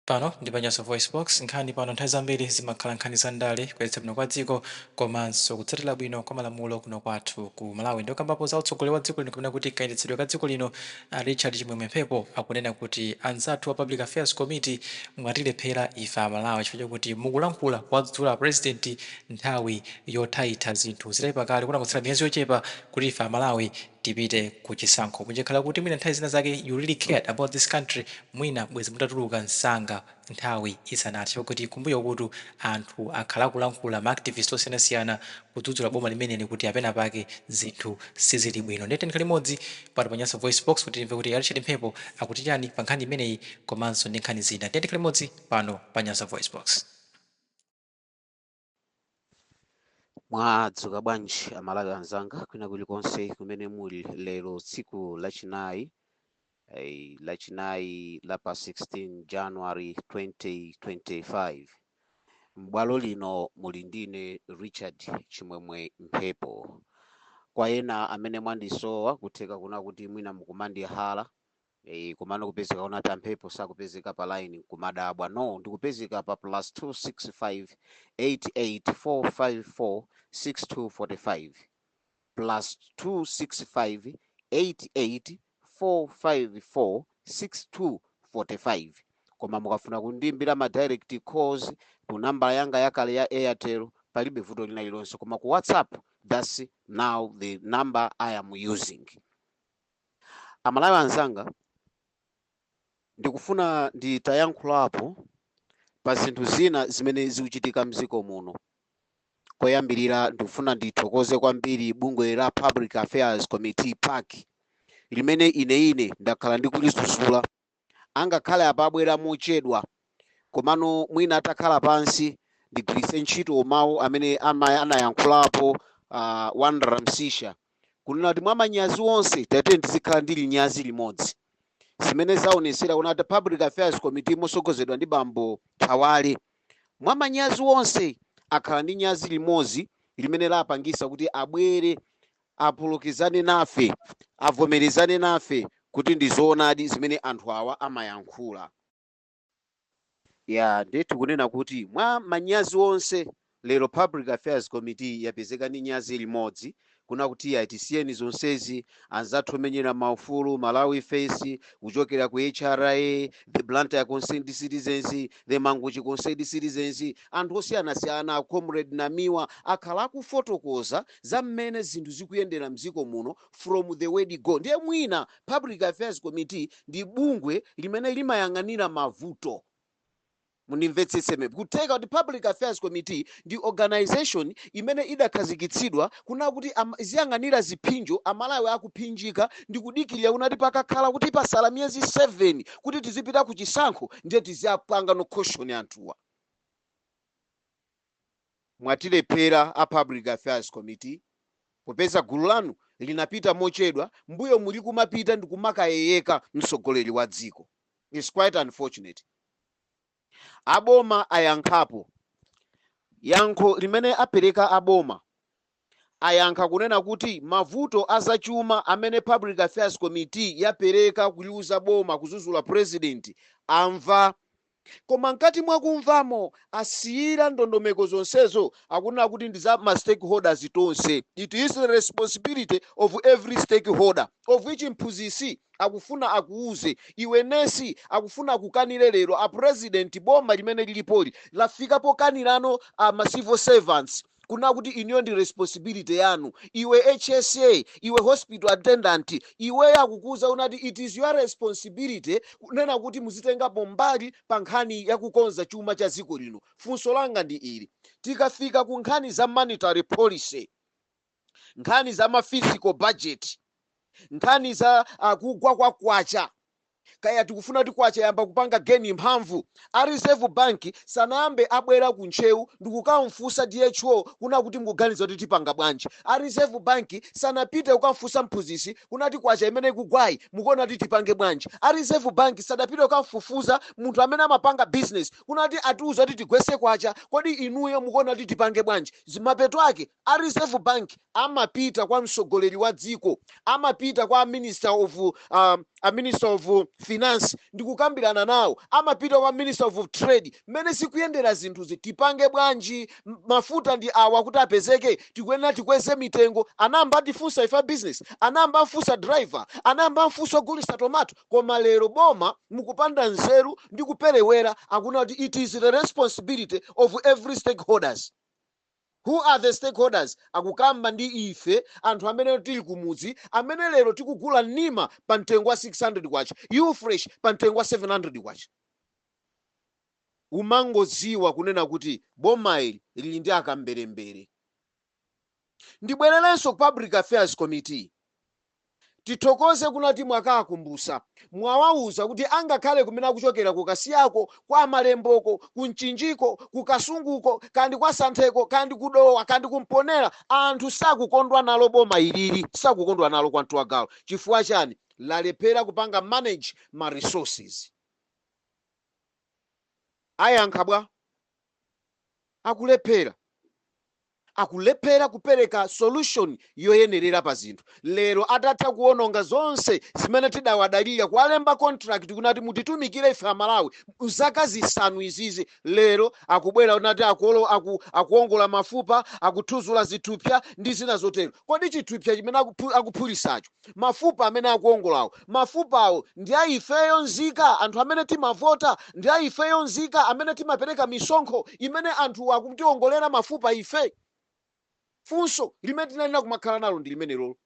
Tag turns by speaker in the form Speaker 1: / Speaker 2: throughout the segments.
Speaker 1: Pano ndi pa Nyasa VoiceBox, nkhani pano nthawi zambiri zimakhala nkhani za ndale, kuyendetsa bwino kwa dziko komanso kutsatira bwino kwa malamulo kuno kwathu ku Malawi. Ndipo pokambapo za utsogoleri wa dziko lino kapena kuti kayendetsedwe ka dziko lino a Richard Chimwemwe Mphepo akunena kuti anzathu a Public Affairs Committee mwatilephera ife a Malawi chifukwa chakuti mukulankhula kuwadzudzula a President nthawi yothaitha zinthu zitaipa kale, kunangotsala miyezi yochepa kuti ife a Malawi tipite ku chisankho. Munjakhala kuti mwina nthawi zina zake you really cared about this country mwina bwezi mutatuluka msanga nthawi isanathe chifukwa kuti kumbuyokutu anthu akhala akulankhula ma activist osiyanasiyana kudzudzula boma limeneli kuti penapake zinthu sizili bwino. Ndiye tiyeni tikhale limodzi pano pa Nyasa VoiceBox kuti timve kuti a Richard Mphepo akuti chani pa nkhani imeneyi komanso ndi nkhani zina. Tiyeni tikhale limodzi pano pa Nyasa VoiceBox.
Speaker 2: mwadzuka bwanji amalawi anzanga kwina kulikonse kumene muli lero tsiku lachinayi eh, lachinayi la pa 16 january 2025 m'bwalo lino muli ndine richard chimwemwe mphepo kwa ena amene mwandisowa kutheka kuna kuti mwina mukumandihala Eyi komano kupezeka kuti a Mphepo sakupezeka pa line nkumadabwa. No, ndikupezeka pa +265884546245 +265884546245 koma mukafuna kundiimbira ma direct calls ku nambala yanga yakale ya Airtel palibe vuto lina lilonse koma ku WhatsApp that's now the number I am using. Amalawi anzanga ndikufuna nditayankhulapo pa zinthu zina zimene zikuchitika mdziko muno. Koyambirira ndikufuna ndithokoze kwambiri bungwe la Public Affairs Committee pac limene ine ine ndakhala ndikulidzudzula angakhale apa abwera mochedwa, komano mwina atakhala pansi, ndigwiritse ntchito mawu amene anayankhulapo a Wanderer Msisha, kunena kuti mwa manyazi onse, tatiyeni tizikhala ndi linyazi limodzi. Zimene zaonetsera kunena kuti Public Affairs Committee motsogozedwa ndi bambo Thawale, mwa manyazi onse akhala ndi nyazi limodzi limene lapangisa kuti abwere apulukizane nafe, avomerezane nafe kuti ndi zoonadi zimene anthu awa amayankhula. Eeeh! Ndiyetu kunena kuti mwa manyazi onse lero Public Affairs Committee yapezeka ndi nyazi limodzi kunena kuti tisiyeni zonsezi, anzathu omenyera maufulu, Malawi First, kuchokera ku HRA, the Blantyre Concerned Citizens, the Mangochi Concerned Citizens, anthu osiyanasiyana, a Comrade Namiwa akhala akufotokoza za mmene zinthu zikuyendera mdziko muno from the word go ndiye mwina public affairs committee ndi bungwe limene limayang'anira mavuto mundimvetsetse me kutheka kuti public affairs committee ndi organization imene idakhazikitsidwa kuna kuti am- iziyang'anira ziphinjo amalawi akuphinjika ndi kudikirira kunati pakakhala kuti pasala miyezi 7 kuti tizipita ku chisankho ndiye tiziyapanga no caution anthuwa mwatilephera a Public Affairs Committee popeza gulu lanu linapita mochedwa mbuyomu muli kumapita ndikumakayeyeka mtsogoleri wa dziko. Its quite unfortunate. Aboma ayankhapo. Yankho limene apereka aboma ayankha kunena kuti mavuto a zachuma amene Public Affairs Committee yapereka kuliuza boma kuzuzula President amva koma mkati mwa kumvamo asiyira ndondomeko zonsezo akunena kuti ndi za ma stakeholders tonse. It is the responsibility of every stakeholder of which mphunzitsi akufuna akuuze iwe nesi akufuna akukanire lero a President boma limene lilipoli lafika pokanira ano a ma civil servants kunena kuti inuyo ndi responsibility yanu iwe hsa iwe hospital attendant iweyo akukuuza unati it is your responsibility kunena kuti muzitengapo mbali pa nkhani ya kukonza chuma cha dziko lino funso langa ndi ili tikafika ku nkhani za monetary policy nkhani za ma fiscal budget nkhani za kugwa kwa kwacha kaya tikufuna kuti kwacha iyambe kupanga gain mphamvu, a reserve bank sanayambe abwera ku ntcheu ndikukamfunsa DHO kuna kuti mukuganiza kuti tipanga bwanji, a reserve bank sanapite kukamfunsa mphunzitsi kunati kwacha imene ikugwayi mukuona kuti tipange bwanji, a reserve bank sadapite kukamfufuza munthu amene amapanga business kuna kuti atiuza kuti tigwetse kwacha kodi inuyo mukuona kuti tipange bwanji, mapeto ake a reserve bank amapita kwa mtsogoleri wa dziko, amapita kwa a minister of, a minister of finance ndikukambirana nawo, amapita kwa minister of trade, mmene zikuyendera zinthuzi, tipange bwanji, mafuta ndi awa kuti apezeke, tikuyenera tikweze mitengo. Anayamba atifunsa ife a business, anayamba amfunsa driver, anayamba amfunsa ogulitsa tomato, koma lero boma mukupanda nzeru ndi kuperewera, akuna kuti it is the responsibility of every stakeholders. Who are the stakeholders? Akukamba ndi ife anthu amene tili kumudzi amene lero tikugula Nyika pa mtengo wa K600, Ufresh pa mtengo wa K700. Umangodziwa kunena kuti boma ili lili ndi akamberembere. Ndibwererenso ku Public Affairs Committee. Tithokoze kunati mwakawakumbusa mwawauza kuti angakhale kumene kuchokera ku kasiyako, kwa malemboko, ku mchinjiko, ku kasunguko kaya ndi kwa santheko kaya ndi ku dowa kaya ndi ku mponela anthu sakukondwa nalo boma ilili sakukondwa nalo kwa mtu wa galu chifukwa chani lalephera kupanga manage ma resources ayankha bwa? akulephera. akulephera kupereka solution yoyenerera pa zinthu lero atatha kuononga zonse zimene tidawadalira kuwalemba contract kuna kuti mutitumikire ife amalawi mzaka zisanu izizi lero akubwera kunati akuolo aku, akuongola mafupa akuthuzula zithupsa ndi zina zotero kodi chithupsa chimene akuphu, akuphulitsacho Mafupa amene akuwongolawo, mafupawo ndi a ifeyo nzika, anthu amene timavota, ndi a ifeyo nzika amene timapereka misonkho imene anthu akutiwongolera mafupa ife? Funso limene tinayenera kumakhala nalo ndi limenelolo.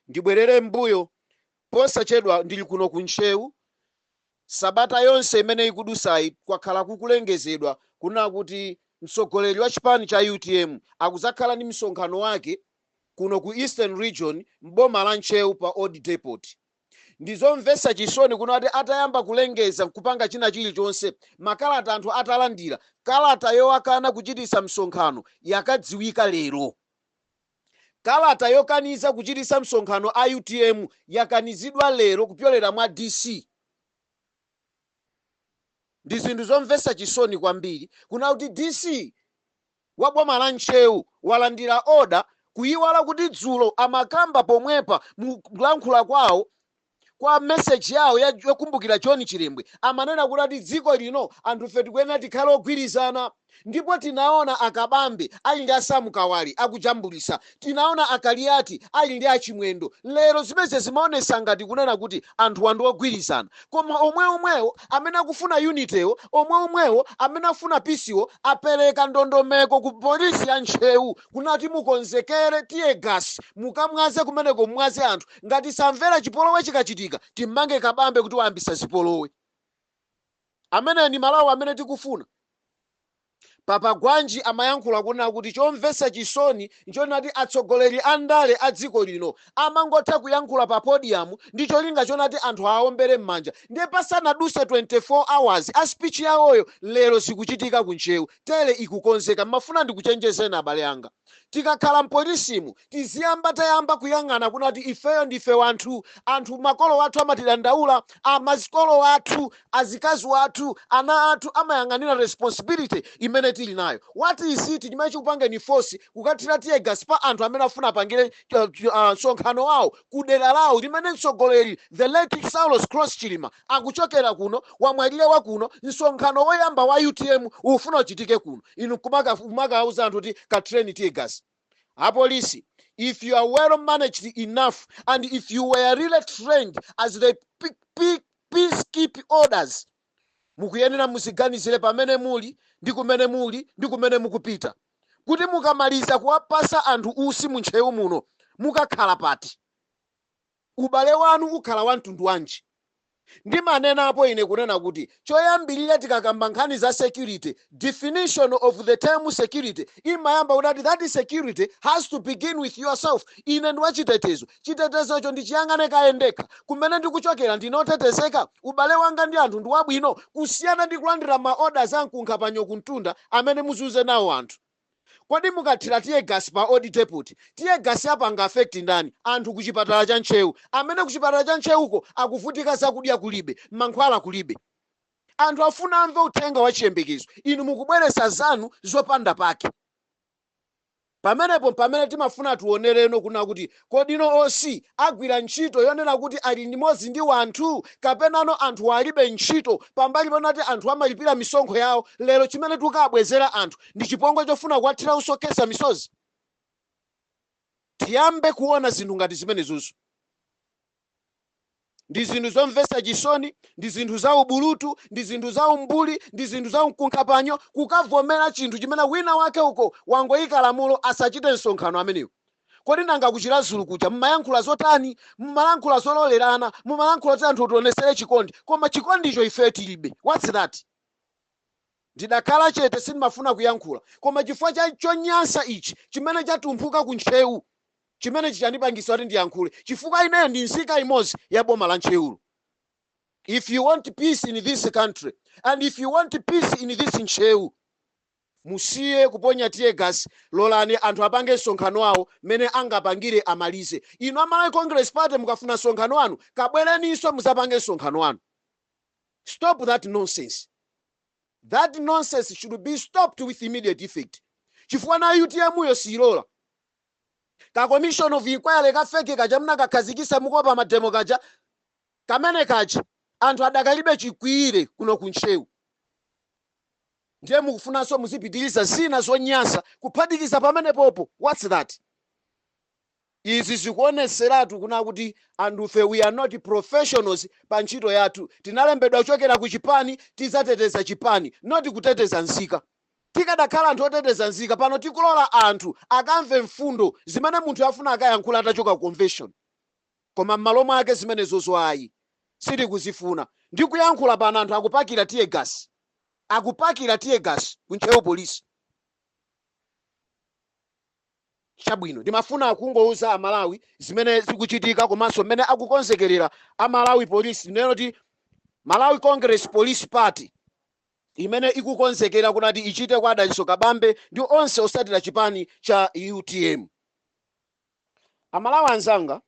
Speaker 2: Ndibwerere m'mbuyo, posachedwa ndili kuno ku Ntcheu, Sabata yonse imene ikudusayi kwakhala kukulengezedwa kuna kuti mtsogoleri wa chipani cha utm akudzakhala ndi msonkhano wake kuno ku Eastern Region m'boma la Ntcheu pa Old Depot. Ndizomvetsa chisoni kunati atayamba kulengeza kupanga china chilichonse makalata anthu atalandira, kalata yowakana kuchititsa msonkhano yakadziwika lero. Kalata yokaniza kuchititsa msonkhano a utm yakanizidwa lero kupyolera mwa DC. Ndi zinthu zomvetsa chisoni kwambiri kuna kuti DC wa boma la Ntcheu walandira order kuyiwala kuti dzulo amakamba pomwepa mu kulankhula kwawo kwa message yawo ya- yokumbukira john chilembwe amanena kuti ati dziko lino anthufe tikuyenera tikhale ogwirizana ndipo tinaona akabambe ali ndi asamukawali akujambulisa tinaona akaliyati ali ndi achimwendo lero zimenezi zimaonesa ngati kunena kuti anthuwa ndi ogwirizana koma omwe omwewo amene akufuna unity-wo omwe omwewo amene afuna peace-wo apereka ndondomeko ku polisi ya ntcheu kunati mukonzekere teargas mukamwaze kumeneko mumwaze anthu ngati samvera chipolowe chikachitika timmange kabambe kuti wayambisa zipolowe ameneyo ndi malawi amene tikufuna papa gwanji amayankhula kunena kuti chomvesa chisoni nchonati atsogoleri a ndale a dziko lino amangotha kuyankhula pa podium ndi cholinga chonati anthu aombere m'manja ndiye pasanaduse 24 hours a speech yawoyo lero zikuchitika ku ntcheu Tele ikukonzeka. Ndimafuna ndikuchenjezeni abale anga. Tikakhala mpolisimu tiziyamba tayamba kuyang'ana kunati ifeyo ndife wanthu, anthu makolo athu amatidandaula, amazikolo athu, azikazi wathu, ana athu amayang'anira responsibility imene tili nayo. What is it chimene chikupangeni force kukathira teargas pa anthu amene akufuna apangire msonkhano wawo ku dera lawo limene mtsogoleri the late Saulos Klaus Chilima akuchokera kuno, wamwalira wa kuno, msonkhano woyamba wa utm ukufuna uchitike kuno, inu nkumakawauza anthu kuti kathireni tear gas. Apolisi, if you are well managed enough and if you were really trained as the peacekeep orders Mukuyenera muziganizire pamene muli ndi kumene muli ndi kumene mukupita kuti mukamaliza kuwapasa anthu usi mu Ntcheu muno mukakhala pati? Ubale wanu ukhala wa mtundu wanji? Ndimanenapo ine kunena kuti choyambirira tikakamba nkhani za security definition of the term security imayamba kuti ati that security has to begin with yourself ine ndi wachitetezo chitetezocho ndichiyang'ane kaye ndekha kumene ndikuchokera ndine otetezeka ubale wanga ndi anthu ndi wabwino kusiyana ndi kulandira ma orders amkunkha panyo kumtunda amene muzunze nawo anthu kodi mukathira teargas pa old depot teargas apanga affect ndani anthu ku chipatala cha ntcheu amene ku chipatala cha ntcheuko akuvutika zakudya kulibe mankhwala kulibe Anthu afuna amve uthenga wa chiyembekezo, inu mukubweretsa zanu zopanda pake. Pamenepo mpamene timafuna tionereno kunena kuti kodino OC agwira ntchito yonena kuti ali limodzi ndi wanthu kapenano anthuwa alibe ntchito pambali ponati anthu amalipira misonkho yawo lero chimene tikukaabwezera anthu ndi chipongwe chofuna kuwathira usi okhesa misozi? Tiyambe kuona zinthu ngati zimenezozo. ndi zinthu zomvetsa chisoni ndi zinthu za ubulutu ndi zinthu za umbuli ndi zinthu za mkunkhapanyo kukavomera chinthu chimene wina wake uko wangoyika lamulo asachite msonkhano amenewo kodi nanga ku chiradzulu kuja mumayankhula zotani mumalankhula zololerana mumalankhula kuti anthu tionesere chikondi koma chikondicho ife tilibe what's that ndidakhala chete sindimafuna kuyankhula koma chifukwa cha chonyansa ichi chimene chatumphuka ku ntcheu Chimenechi chandipangitsa kuti ndiyankhule chifukwa ineyo ndi nzika imodzi ya boma la Ntcheulu. If you want peace in this country and if you want peace in this Ntcheu, musiye kuponya teargas lolani anthu apange msonkhano wawo mmene angapangire amalize. Inu a Malawi Congress Party mukafuna msonkhano wanu kabwereninso mudzapange msonkhano wanu. Stop that nonsense. That nonsense should be stopped with immediate effect chifukwa nayo utm yo siilola. Ka commission of inquiry ka fake kaja mnakakhazikisa mukuopa ma demo kaja, kamene kaja anthu adakalibe chikwiyire kuno ku Ntcheu ndiye mukufunanso muzipitiliza zina zonyansa kuphatikiza pamenepopo what's that? Izi zikuoneseratu kunena kuti anthufe we are not professionals pa ntchito yathu, tinalembedwa kuchokera ku chipani tidzateteza chipani not kuteteza nzika. Tikadakhala anthu oteteza nzika pano tikulola anthu akamve mfundo zimene munthu afuna akayankhule atachoka ku convention koma mmalo mwake zimenezozo ayi sitikuzifuna ndikuyankhula pano anthu akupakira teargas akupakira teargas ku ntcheu police. Chabwino ndimafuna kungouza a Malawi zimene zikuchitika komanso mmene akukonzekerera a Malawi police tinene kuti Malawi congress police party. imene ikukonzekera kunati ichite kwa a Dalitso Kabambe ndi onse otsatira chipani cha utm. Amalawi anzanga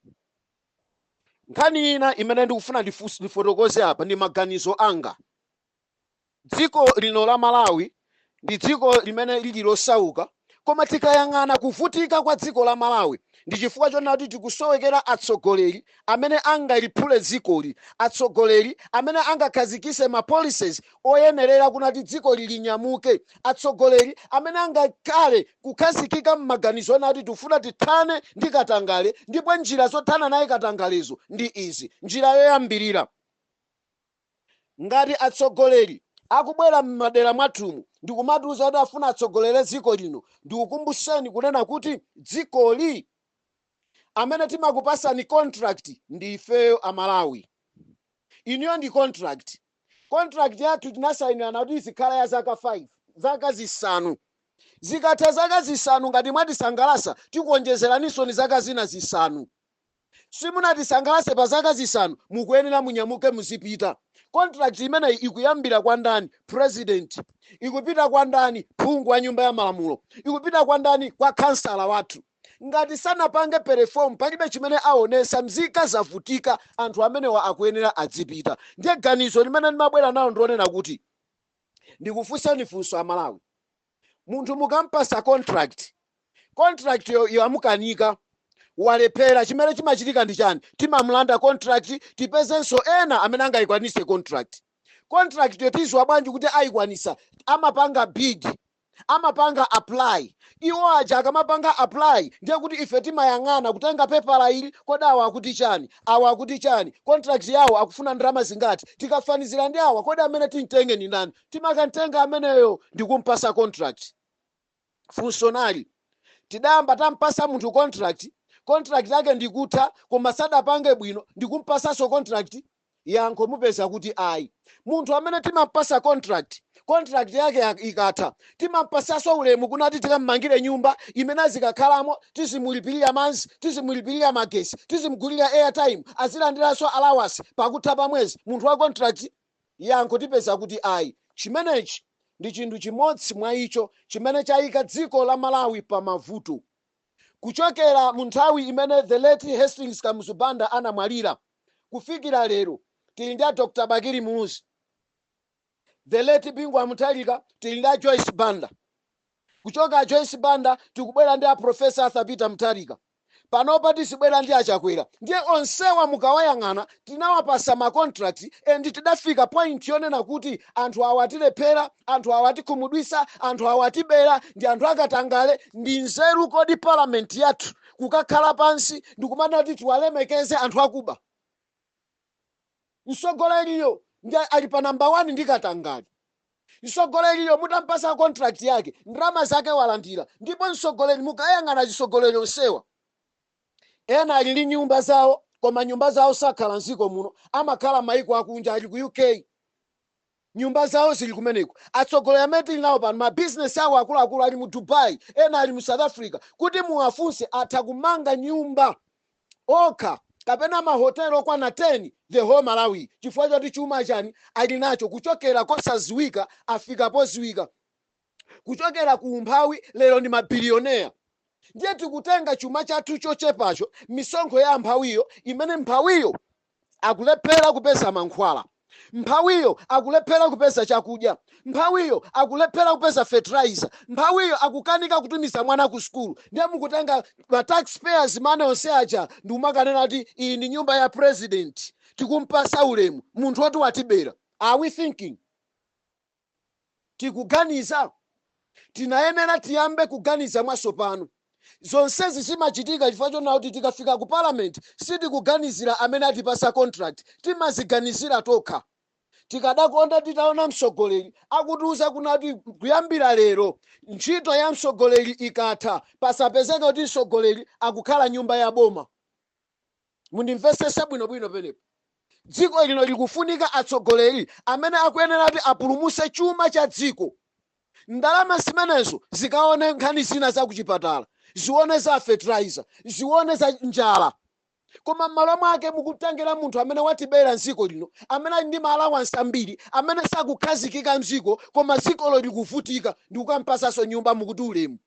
Speaker 2: nkhani ina imene ndikufuna ndifotokoze apa ndi maganizo anga. Dziko lino la Malawi ndi dziko limene lili losauka Koma tikayang'ana kuvutika kwa dziko la Malawi ndi chifukwa chonena kuti tikusowekera atsogoleri amene angaliphule dzikoli, atsogoleri amene angakhazikise ma policies oyenerera kunati dzikoli linyamuke, atsogoleri amene angakhale kukhazikika mmaganizo onena kuti tikufuna tithane ndi katangale ndipo njira zothana naye katangalezo ndi izi, njira yoyambirira. Ngati atsogoleri akubwera mmadera mwathumu ndikumatiuza kuti afuna atsogolere dziko lino ndikukumbuseni kunena kuti dzikoli amene timakupasani contract ndi ifeyo a Malawi. Iniyo ndi contract. Contract yathu tinasainirana kuti izikhala ya zaka 5, zaka zisanu. Zikatha zaka zisanu ngati mwatisangalasa tikuonjezeraninsoni zaka zina zisanu. Simunatisangalase pa zaka zisanu mukuyenera munyamuke muzipita. Contract imeneyi ikuyambira kwa ndani? President. Ikupita kwa ndani? Phungu wa nyumba ya malamulo. Ikupita kwa ndani? Kwa khansala wathu. Ngati sanapange perform palibe chimene awonesa mzika zavutika anthu amenewa akuyenera adzipita. Ndiye ganizo limene ndimabwera nalo ndilonena kuti ndikufunsani funso a Malawi. Munthu mukampasa contract, contract yo yamukanika, walephera, chimene chimachitika ndi chani? Timamulanda contract tipezenso ena amene angayikwanitse contract. Contract yo tiziwa bwanji kuti ayikwanitsa? Amapanga bid, amapanga apply, iwo aja akamapanga apply ndiye kuti ife timayang'ana kutenga pepala ili, kodi awa akuti chani, awa akuti chani, contract yawo akufuna ndalama zingati, tikafanizira ndi awa kodi amene timtenge ndi ndani? timakantenga ameneyo ndikumpasa contract funso nali tidayamba tampasa munthu contract yake ndikutha koma sadapange bwino ndikumpasanso contract yankho mupeza kuti ayi munthu amene timampasa contract yake ikatha timampasanso ulemu kunati tikammangire nyumba imene azikakhalamo tizimulipirira manzi tizimulipirira magesi tizimgulira airtime azilandiranso allowance pakutha pa mwezi munthu wa contract Yankho, Tipeza kuti ayi. Chimenechi ndi chinthu chimodzi mwa icho chimene chayika dziko la Malawi pa mavuto. Kuchokera mu nthawi imene the late Hastings Kamuzu Banda anamwalira kufikira lero tili ndi a Dr. Bakili Muluzi, the late Bingu wa Mutharika, tili ndi a Joyce Banda. Kuchoka a Joyce Banda tikubwera ndi a Professor Arthur Peter Mutharika. Panopa tizibwera ndi a Chakwera. Ndiye onsewa mukawayang'ana tinawapasa ma contract and tidafika point yonena kuti anthu awa atilephera, anthu awa atikhumudwitsa, anthu awa atibera, ndi anthu akatangale. Ndi nzeru kodi parliament yathu kukakhala pansi ndikumana kuti tiwalemekeze anthu akuba? Msogoleriyo ndiye ali pa number one ndi katangale. Msogoleriyo mutampasa contract yake ndalama zake walandira ndipo msogoleri mukayang'ana azisogoleri onsewa ena ali ndi nyumba zawo koma nyumba zawo sakhala mziko muno amakhala maiko akunja ali ku UK. Nyumba zawo zili kumeneko. Atsogoleri amene tili nawo pano ma business awo akuluakulu ali mu Dubai, ena ali mu South Africa. Kuti muwafunse atha kumanga nyumba okha kapena mahotelo okwana 10 the whole Malawi chifukwa choti chuma chani ali nacho kuchokera kosaziwika afika poziwika. kuchokera ku umphawi lero ndi mabiliyonea ndiye tikutenga chuma chathu chochepacho misonkho ya mphawiyo imene mphawiyo akulephera kupeza mankhwala mphawiyo akulephera kupeza chakudya mphawiyo akulephera kupeza fertilizer mphawiyo akukanika kutumiza mwana ku sukulu ndiye mukutenga ma taxpayers money onse aja ndikumakanena kuti iyi ndi nyumba ya president tikumpasa ulemu munthu woti watibera are we thinking tikuganiza? Tinayenera tiyambe kuganiza mwatsopano. Zonsezi zimachitika chifukwa chonena kuti tikafika ku parliament sitikuganizira amene atipatsa contract, timaziganizira tokha. Tikadakonda titaona mtsogoleri akutiuza kunena kuti kuyambira lero ntchito ya mtsogoleri ikatha pasapezeke kuti mtsogoleri akukhala nyumba ya boma. Mundimvesese bwino bwino penepo. Dziko lino likufunika atsogoleri amene akuyenera kuti apulumuse chuma cha dziko. Ndalama zimenezo zikaone nkhani zina za kuchipatala, zione za fertilizer, zione za njala. Koma mmalo mwake mukutengera munthu amene watibera mziko lino, amene ali ndi ma allowance ambiri, amene sakukhazikika mziko koma dzikolo likuvutika ndikukampasanso nyumba mukuti ulemu.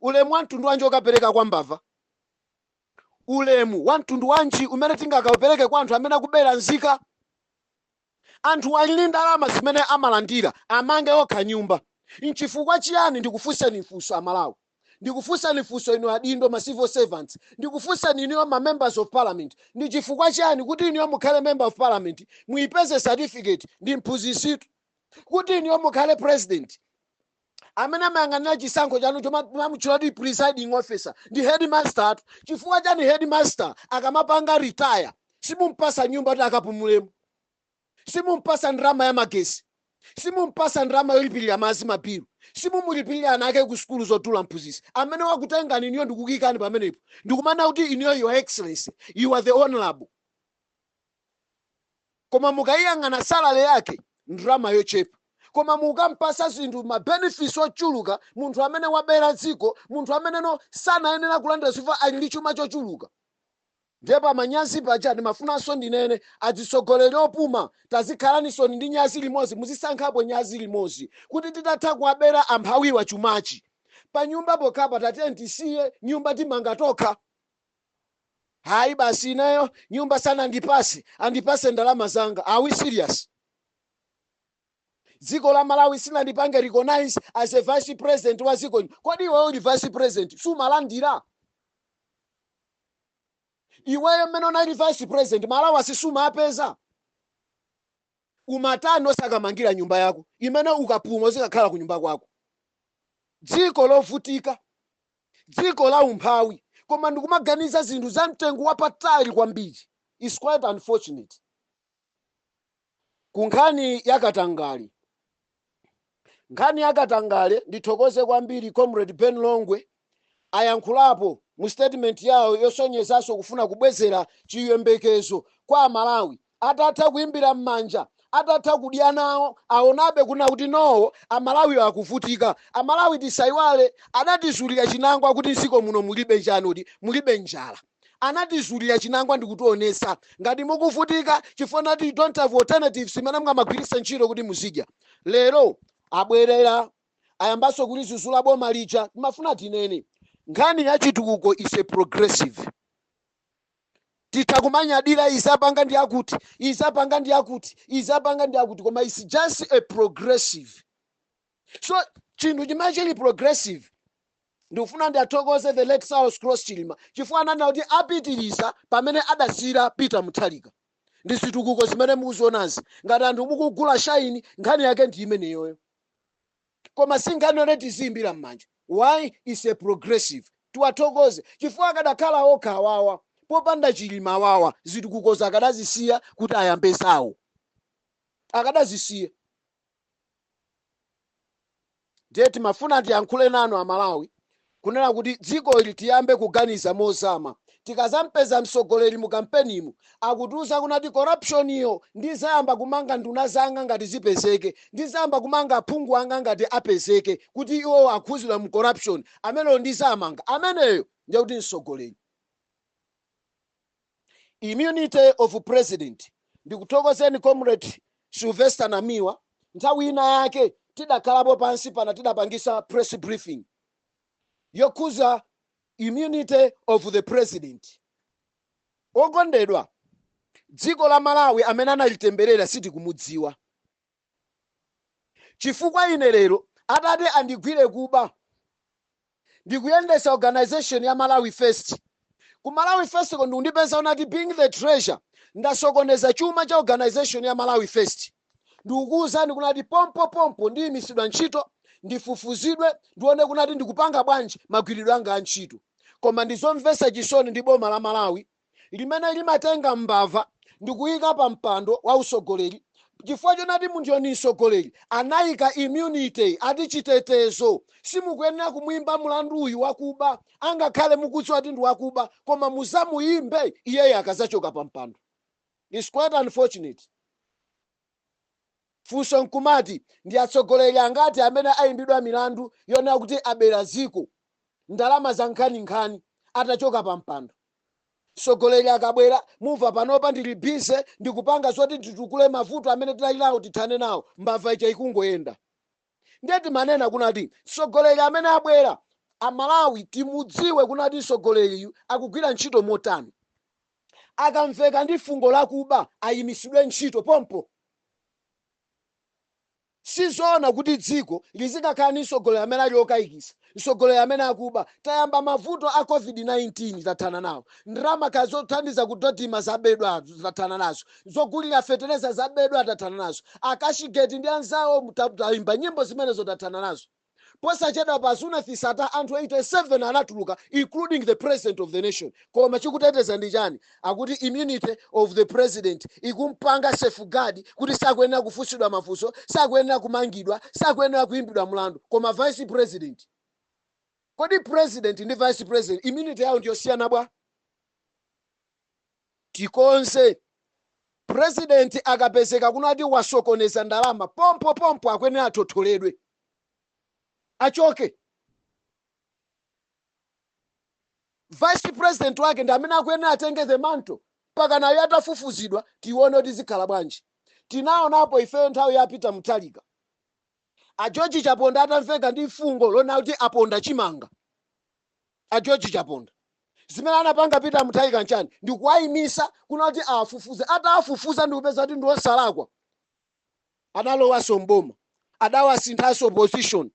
Speaker 2: Ulemu wa mtundu wanji okapereka kwa mbava? Ulemu wa mtundu wanji umene tingakaupereke kwa anthu amene akubera nzika? Anthuwa ali ndi ndalama zimene amalandira, amange okha nyumba. N'chifukwa chiyani ndikufunseni funso a Malawi? Ndikufunseni funso inu adindo, ma civil servants? Ndikufunseni inuyo ma members of parliament? Ndi chifukwa chiyani kuti inuyo mukhale member of parliament muipeze certificate? Ndi mphunzitsitu. Kuti inuyo mukhale president? amene amayang'anira chisankho chanu chomamutchula kuti presiding officer ndi headmaster tu chifukwa chani headmaster akamapanga retire simumpasa nyumba kuti akapumulemo simumpasa ndalama ya magesi simumpasa ndalama yolipirira madzi mabilu simumulipirira ana ake ku sukulu zotula mphunzitsi amene wakutengani inuyo ndikukuikani pamenepo ndikumanena kuti inuyo your excellency you are the honorable koma mukaiyang'ana salary yake ndalama yochepa koma mukampasa zinthu ma benefits ochuluka munthu amene wabera dziko munthu amene no sanayenera kulandira chifukwa ali ndi chuma chochuluka ndiye pamanyazi paja ndimafunanso ndinene adzitsogoleri opuma tazikhalaninsoni ndi nyazi limodzi muzisankhapo nyazi limodzi kuti titatha kuwabera amphawiwa chumachi panyumba pokhapa tatiyeni tisiye nyumba timanga tokha Ayi basi ineyo nyumba sanandipase andipase ndalama zanga are we serious? Dziko la Malawi silinandipange recognize as a vice president wa dziko lino kodi iwe uli vice president sumalandira? Iweyo mmene unali vice president ma allowance sumapeza? Umatani osakamangira nyumba yako imene ukapuma uzikakhala kunyumba kwako? Dziko lovutika, dziko la umphawi koma ndikumaganiza zinthu za mtengo wapatali kwambiri. It's quite unfortunate. Ku nkhani ya katangale, nkhani ya katangale ndithokoze kwambiri comrade Ben Longwe ayankhulapo mu statement yawo yosonyezanso kufuna kubwezera chiyembekezo kwa amalawi atatha kuimbira mmanja atatha kudya nawo aonabe kunena kuti no amalawi akuvutika amalawi tisayiwale adatizulira chinangwa kuti mdziko muno mulibe chani odi mulibe njala anatizulira chinangwa ndikutionesa ngati mukuvutika chifukwa nati don't have alternatives imene mungamagwiritse ntchito kuti muzidya lero abwerera ayambanso kulizuzula boma lija timafuna tinene nkhani ya chitukuko is a progressive titha kumanyadira izapanga ndi akuti izapanga ndi akuti izapanga ndi akuti koma is just a progressive so chinthu chimene chili progressive ndikufuna ndiathokoze the late saulos klaus chilima chifukwa ananena kuti apitiriza pamene adasiyira peter mutharika ndi zitukuko zimene mukuzionazi ngati anthu mukugula shaini nkhani yake ndi imeneyoyo koma si nkhani yoti tiziyimbira m'manja why is a progressive tiwathokoze chifukwa akadakhala okha awawa popanda chilima awawa zitukukozo akadazisiya kuti ayambe zawo akadazisiya ndiye timafuna tiyankhule nanu amalawi kunena kuti dziko ili tiyambe kuganiza mozama tikazampeza mtsogoleri mu kampenimu akutiuza kunati corruption iyo ndizayamba kumanga nduna zanga ngati zipezeke ndizayamba kumanga aphungu anga ngati apezeke kuti iwo akhuzidwa mu corruption ameneyo ndizamanga ameneyo ndiye kuti mtsogoleri Immunity of president. Ndikuthokozeni comrade Sylvester Namiwa nthawi ina yake tidakhalapo pansi pana tidapangisa press briefing yokhuza immunity of the president. Okondedwa, dziko la Malawi amene analitemberera sitikumudziwa. Chifukwa ine lero atati andigwire kuba ndikuyendesa organisation ya Malawi first ku Malawi first ko ndikundipeza unati being the treasurer ndasokoneza chuma cha organisation ya Malawi first ndikukuuzani kunati pompo pompo ndiyimisidwa ntchito ndifufuzidwe ndione kunati ndikupanga bwanji magwiridwe anga antchito koma ndizomvesa chisoni ndi boma la Malawi limene limatenga mbava ndikuika pa mpando wa usogoleri chifukwa chonati munthuyo ndi msogoleri anaika immunity ati chitetezo simukuyenera kumuimba mulandu uyu wakuba angakhale mukudziwa kuti ndi wakuba koma muzamuimbe iyeyo akazachoka pa mpando It's quite unfortunate Funso nkumati ndi atsogoleri angati amene ayimbidwa milandu yonena kuti abera dziko ndalama za nkhaninkhani atachoka pa mpando? Mtsogoleri akabwera mumva panopa ndili busy ndikupanga zoti titukule mavuto amene tidali nawo tithane nawo mbava ija ikungoyenda. Ndiye timanena kunati mtsogoleri amene abwera Amalawi timudziwe kunati mtsogoleriyu akugwira ntchito motani. Akamveka ndi fungo la kuba ayimitsidwe ntchito pompo. Sizoona kuti dziko lizikakhala ndi mtsogoleri amene ali okaikitsa. mtsogoleri amene akuba tayamba mavuto a covid-19 tathana nawo ndalama kaya zothandiza kudodima zabedwa tathana nazo zogulira fetereza zabedwa tathana nazo akashigeti ndi anzawo ta- tayimba nyimbo zimenezo tathana nazo posachedwapa Zuneth Sattar anthu 87 anatuluka including the president of the nation koma chikuteteza ndi chani akuti immunity of the president ikumpanga safeguard kuti sakuyenera kufunsidwa mafunso sakuyenera kumangidwa sakuyenera kuimbidwa mlandu koma vice president kodi president ndi vice president immunity yawo ndiyosiyana bwa tikonze president akapezeka kunena kuti wasokoneza ndalama pompo pompo akuyenera athotholedwe achoke vice president wake ndi amene akuyenera atenge the mantle mpaka nayo atafufuzidwa tione kuti zikhala bwanji. Tinaonapo ifeyo nthawi ya a Peter Mutharika a George Chaponda atamveka ndi fungo lonena kuti aponda chimanga a George Chaponda. Zimene anapanga Peter Mutharika nchani? Ndi kuwaimisa kunena kuti awafufuze. Atawafufuza ndi kupeza kuti ndi osalakwa, analowanso m'boma, adawasinthanso position.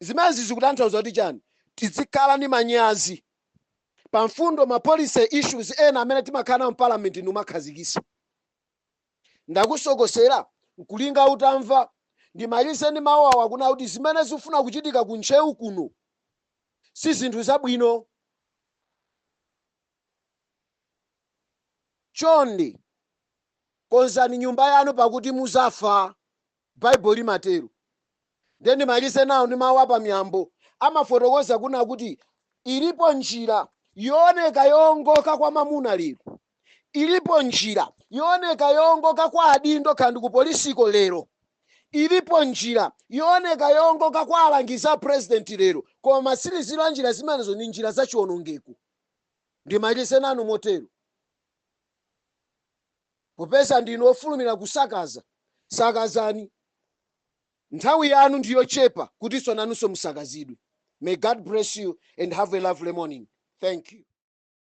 Speaker 2: Zimenezi zikutanthauza kuti chani? Tidzikhala ndi manyazi pa mfundo ma policy issues ena amene timakhala nawo m'parliament ndikumakhazikisa. Ndakusokosera nkulinga utamva. Ndimalize ndi mawu awa kunena kuti zimene zikufuna kuchitika ku Ntcheu kuno si zinthu zabwino. Chonde konzani nyumba yanu pakuti muzafa. Baibulo limatero. Ndiye ndimalize nawo ndi mawu a pa Miyambo. Amafotokoza kunena kuti ilipo njira yooneka yoongoka kwa mwamuna lero. Ilipo njira yooneka yoongoka kwa adindo kaya ndi kupolisiko lero. Ilipo njira yooneka yoongoka kwa alangizi a pulezidenti lero. Koma matsiriziro a njira zimenezo ndi njira za chiwonongeko. Ndimalize nanu motero. Popeza ndinu ofulumira kusakaza, sakazani. Nthawi yanu ndi yochepa kuti inunso nanunso musakazidwe. May God bless you and have a lovely morning. Thank you.